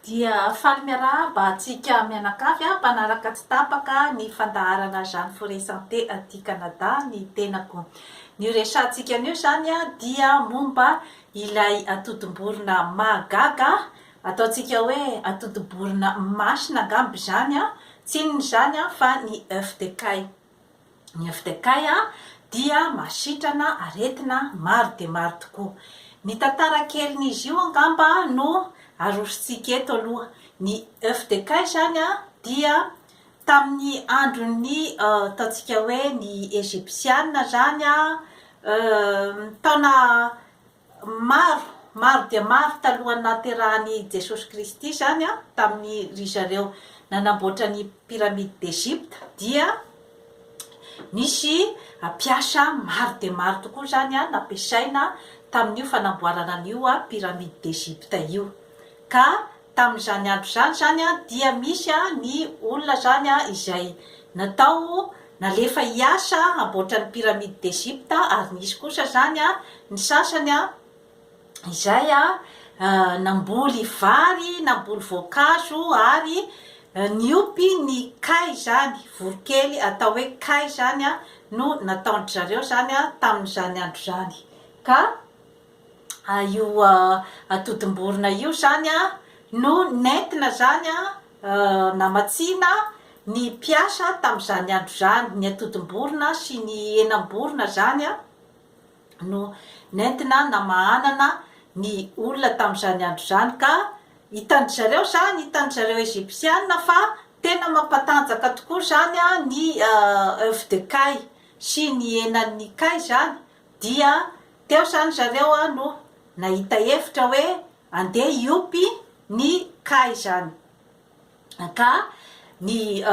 dia faly miarahaba antsika mianakavy ah, mpanaraka tsy tapaka ny fandaharana Jeanne Forêt Santé aty Canada ny tenako. Ny resahantsika anio izany ah, dia momba ilay atodim-borona mahagaga ah, ataontsika hoe atodim-borona masina angamba izany ah, tsy inona izany ah, fa ny œuf de caille. Ny FDK dia mahasitrana aretina maro dia maro tokoa. Ny tantara kelin'izy io angamba no arosontsika eto aloha. Ny FDK izany dia tamin'ny andron'ny ataontsika hoe ny Ejipsiana izany, taona Maro, maro dia maro talohan'ny nahaterahan'i Jesosy Kristy izany, tamin'ny ry zareo nanamboatra ny Pyramide d'Egypte dia nisy mpiasa maro dia maro tokoa izany nampiasaina tamin'io fanamboarana an'io Pyramide d'Egypte io ka Tamin'izany andro izany izany dia misy ny olona izany izay natao nalefa hiasa hamboatra ny Pyramide d'Egypte ary nisy kosa izany ny sasany izay namboly vary, namboly voankazo ary niompy ny kay izany, voronkely atao hoe kay izany no nataon-dry zareo izany tamin'izany andro izany ka. io atodim-borona io izany an, no nentina zany an, namatsiana ny mpiasa tamin'izany andro izany, ny atodim-borona sy ny henam-borona izany an, no nentina namahanana ny olona tamin'izany andro izany ka hitan-dry zareo izany, hitan-dry zareo Egyptiana fa tena mampatanjaka tokoa izany an ny oeuf de kay sy ny henan'ny kay izany Dia teo izany zareo no nahita hevitra hoe andeha hiompy ny cas izany. Ka ny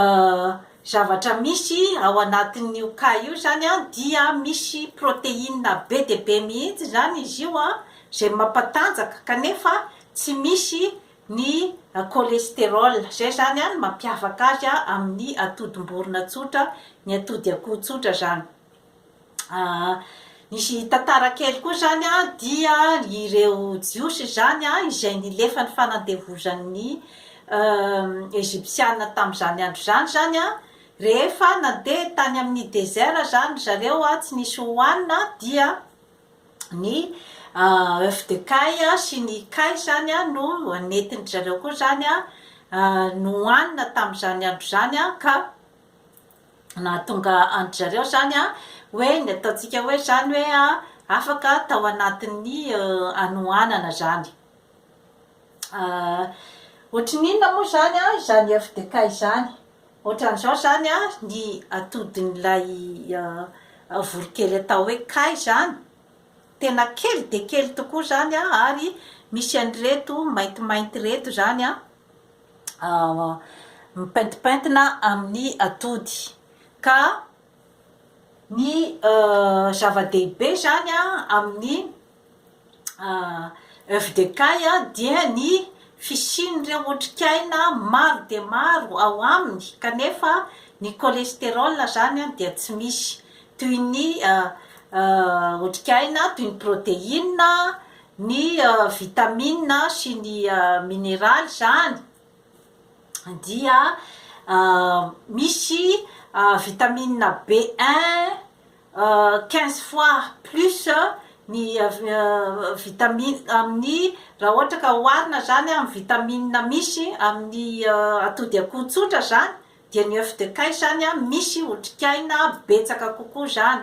zavatra misy ao anatin'io cas io izany dia misy protéine be dia be mihitsy izany izy io izay mampatanjaka kanefa tsy misy ny cholestérol. Izay izany no mampiavaka azy amin'ny atodim-borona tsotra, ny atody akoho tsotra izany. Nisy tantara kely koa izany dia ireo Jiosy izany izay nilefa ny fanandevozan'ny Ejipsianina tamin'izany andro izany izany rehefa nandeha tany amin'ny dezera izany ry zareo tsy nisy hohanina dia ny oeuf de caille sy ny kay izany no nentin-dry zareo koa izany nohanina tamin'izany andro izany ka nahatonga an-dry zareo izany hoe ny ataontsika hoe izany hoe afaka tao anatin'ny hanoanana izany. Ohatran'ny inona moa izany izany FDK izany? Ohatran'izao izany ny atodin'ilay voronkely atao hoe kay izany, tena kely dia kely tokoa izany ary misy an'ireto maintimainty ireto izany an! mipaintipaintina amin'ny atody ka ny zava-dehibe zany a amin'ny oeuf de caille a dia ny fisian'ireo otrikaina maro dia maro ao aminy kanefa ny cholestérol zany a dia tsy misy toy ny otrikaina toy ny protéine Ny vitamina sy ny mineraly izany dia misy vitamina B1 quinze fois plus ny vitamina amin'ny raha ohatra ka oharina izany amin'ny vitamina misy amin'ny atody akoho tsotra izany dia ny oeuf de caille izany misy otrikaina betsaka kokoa izany.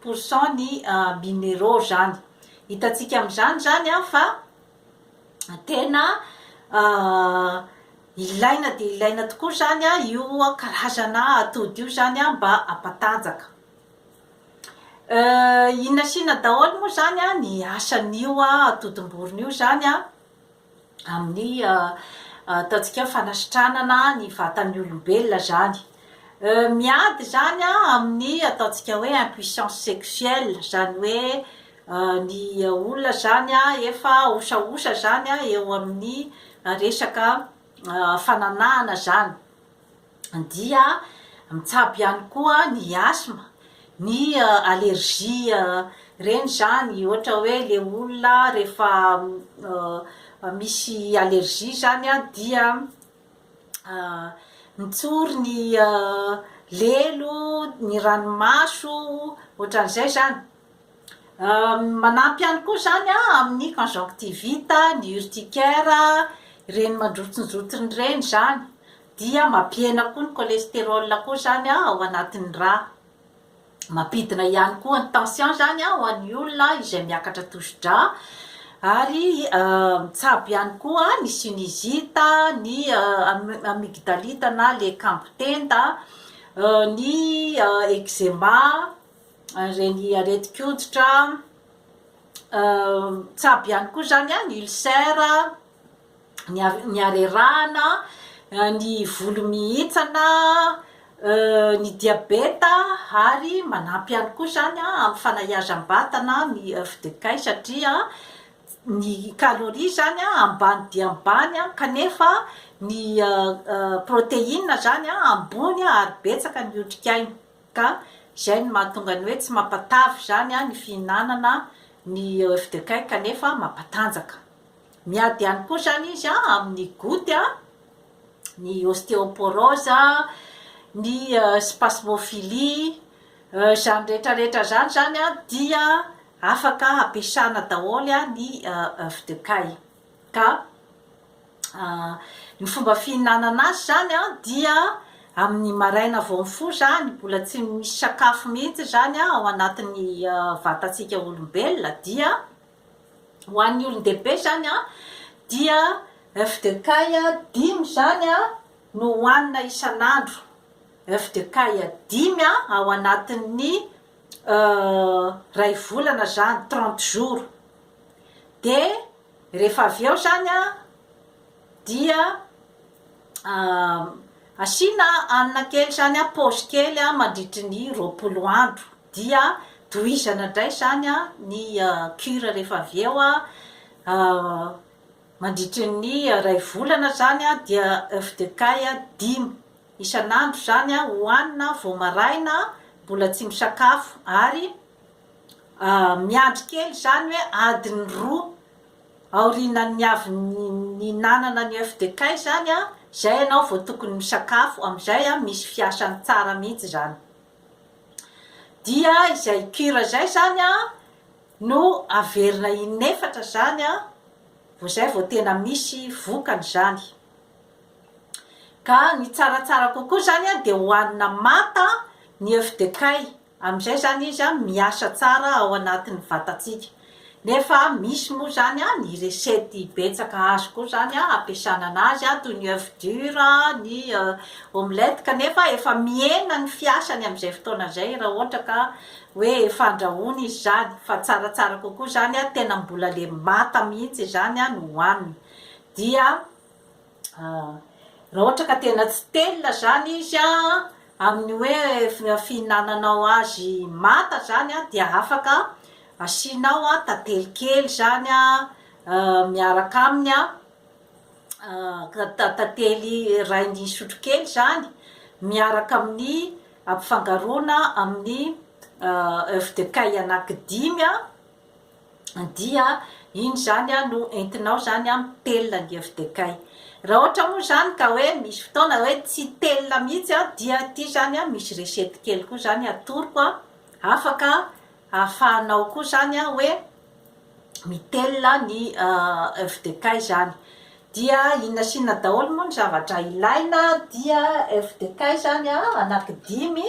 pour cent ny mineraux zany hitantsika amin'izany zany an fa tena ilaina dia ilaina tokoa zany an io karazana atody io zany an mba hampatanjaka inona sy inona daholo moa zany an ny asan'io atodim-borona io zany an amin'ny ataontsika hoe fanasitranana ny vatan'ny olombelona zany miady zany amin'ny ataontsika hoe impuissance sexuelle zany hoe ny olona zany efa osaosa zany eo amin'ny resaka fananahana zany dia mitsabo ihany koa ny asthme, ny allergie ireny zany ohatra hoe le olona rehefa misy allergie zany a dia mitsory ny lelo, ny ranomaso, ohatran'izay zany. Manampy ihany koa izany amin'ny conjonctivite, ny urticaire, ireny mandrotsinjotony ireny izany dia mampihena koa ny cholesterol koa izany ao anatin'ny rà. Mampidina ihany koa ny tension izany ho an'ny olona izay miakatra tosi-drà ary mitsabo ihany koa ny sinusite, ny amygdalite na le kambon-tenda, ny eczema. ireny aretin-koditra, tsabo ihany koa izany an, ny ulcère, ny are- ny harerahana, ny volo mihitsana, ny diabeta ary manampy ihany koa izany an amin'ny fanahiazam-batana ny fdk satria ny calorie izany an ambany dia ambany an kanefa ny proteine izany an ambony ary betsaka ny otrikaina. Ka izay no mahatonga ny hoe tsy mampatavy izany ny fihinanana ny oeuf de Caille kanefa mampatanjaka. Miady ihany koa izany izy amin'ny goute, ny ostéoporose, ny spasmophilie, izany rehetra rehetra izany izany dia afaka ampiasana daholo ny oeuf de Caille. Ka ny fomba fihinanana azy izany dia amin'ny maraina vao mifoha izany, mbola tsy misy sakafo mihitsy izany ao anatin'ny vatantsika olombelona dia ho an'ny olon-dehibe izany dia oeuf de caille dimy izany no hohanina isan'andro, oeuf de caille dimy ao anatin'ny iray volana izany, trente jours. dia rehefa avy eo zany a dia asiana hanina kely zany a pause kely a mandritry ny roapolo andro dia tohizana indray zany a ny cure rehefa avy eo a mandritry ny iray volana zany a dia oeuf de caille dimy isan'andro zany a hohanina vao maraina mbola tsy misakafo ary Miandry kely izany hoe adiny roa aorianan'ny avy nihinanana ny oeuf de caille izany an, izay ianao vao tokony misakafo, amin'izay an misy fiasany tsara mihitsy izany. Dia izay cure izay izany an no averina in'efatra izany an, vao izay vao tena misy vokany izany. Ka ny tsaratsara kokoa izany an dia hohanina manta ny oeuf de caille, Amin'izay izany izy an miasa tsara ao anatin'ny vatantsika. Nefa misy moa izany an ny recette betsaka azo koa izany an ampiasana anazy an, toy ny oeuf dur, ny omelette, kanefa efa mihena ny fiasany amin'izay fotoana izay raha ohatra ka hoe efa andrahoina izy izany. Fa tsaratsara kokoa izany an tena mbola le manta mihitsy izany an no hohanina. Dia. Ah! Raha ohatra ka tena tsy telina zany izy ah, amin'ny hoe fihinananao azy manta zany ah, dia afaka asianao ah tantely kely zany ah miaraka aminy ah, tantely rain'ny sotro kely zany miaraka amin'ny ampifangaroana amin'ny oeuf de caille anaky dimy ah. dia iny izany no entinao izany mitelina ny FDKay. Raha ohatra moa izany ka hoe misy fotoana hoe tsy telina mihitsy dia ity izany misy recette kely koa izany atoroko afaka ahafahanao koa izany hoe mitelina ny FDK izany. Dia inona sy inona daholo moa ny zavatra ilaina dia FDK izany anaky dimy.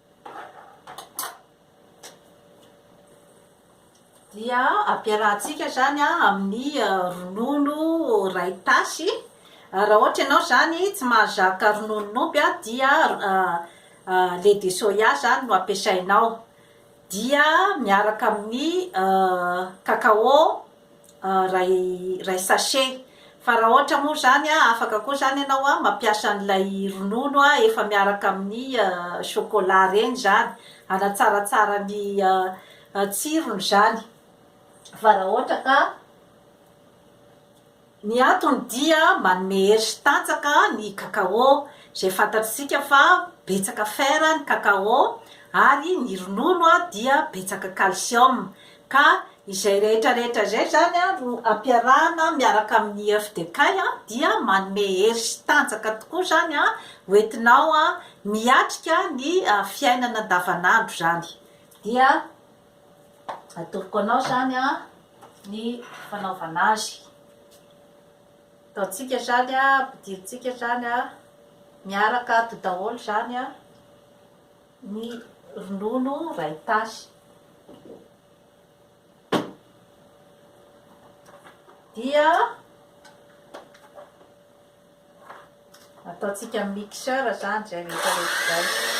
dia ampiarahantsika izany amin'ny ronono iray tasy raha ohatra ianao izany tsy mahazaka rononon'omby a dia lait de soya izany no ampiasainao dia miaraka amin'ny cacao iray sachet fa raha ohatra moa izany an, afaka koa izany ianao an mampiasa an'ilay ronono efa miaraka amin'ny chocolat ireny izany, hanatsaratsara ny tsirony izany fa raha ohatra ka Ny antony dia manome hery sy tanjaka ny cacao, izay fantatsika fa betsaka fer ny cacao ary ny ronono dia betsaka calcium, ka izay rehetra rehetra izay izany no ampiarahana miaraka amin'ny oeuf de caille dia manome hery sy tanjaka tokoa izany ho entinao miatrika ny fiainana andavan'andro izany dia Atoroko anao izany ny fanaovana azy. Ataontsika izany, ampidirintsika izany, miaraka ato daholo izany ny ronono iray tasy. Dia. Ataontsika amin'ny mixeur izany izay rehetra rehetra izay.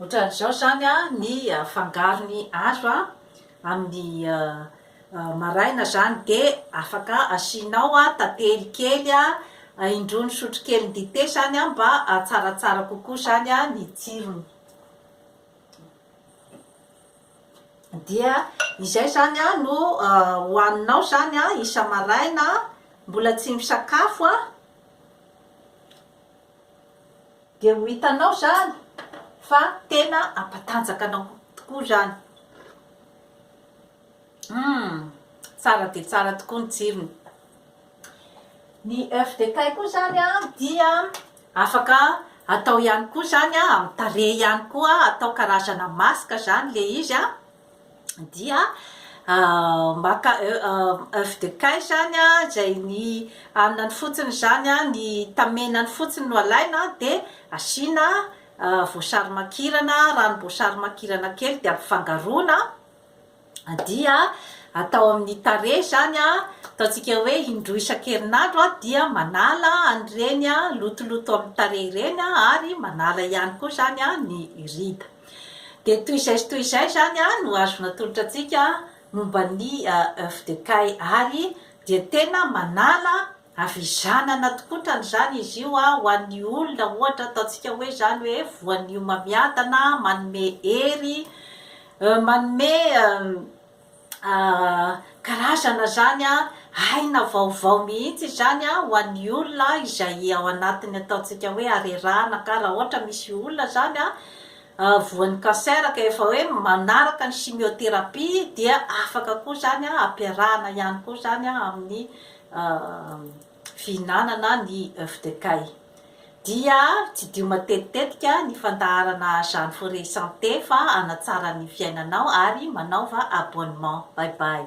Ohatran'izao izany ny fangarony azo amin'ny maraina izany dia afaka asianao tantely kely indroan'ny sotrokeliny dite izany mba hahatsaratsara kokoa izany ny tsirony. Dia izay izany no hohaninao izany isa-maraina mbola tsy misakafo. Dia ho hitanao izany fa tena hampatanjaka anao tokoa izany. Hum, tsara dia tsara tokoa ny tsirony. Ny oeuf de Caille koa izany dia afaka atao ihany koa izany amin'ny tarehy ihany koa, atao karazana masque izany ilay izy. dia maka oeuf de caille zany a zay ny anany fotsiny zany a ny tamenany fotsiny no alaina de asiana voasary makirana ranom-boasary makirana kely de ampifangaroana dia atao amin'ny tarehy zany a ataontsika hoe indroa isan-kerinandro a dia manala an'ireny lotoloto amin'ny tarehy ireny ary manala ihany koa zany a ny rida Dia toy izay sy toy izay izany no azo natolotra antsika momba ny oeuf de Cail ary dia tena manala havizanana tokoa otrany izany izy io ho an'ny olona ohatra ataontsika hoe izany hoe voanio mamiadana manome hery manome karazana izany aina vaovao mihitsy izany ho an'ny olona izay ao anatin'ny ataontsika hoe harerahana ka raha ohatra misy olona izany voan'ny cancer ka efa hoe manaraka ny chimiothérapie dia afaka koa izany ampiarahana ihany koa izany amin'ny fihinanana ny œuf de kay. Dia tsidio matetitetika ny fandaharana Jeanne Forest Santé fa hanatsara ny fiainanao ary manaova abonnement. Bye bye.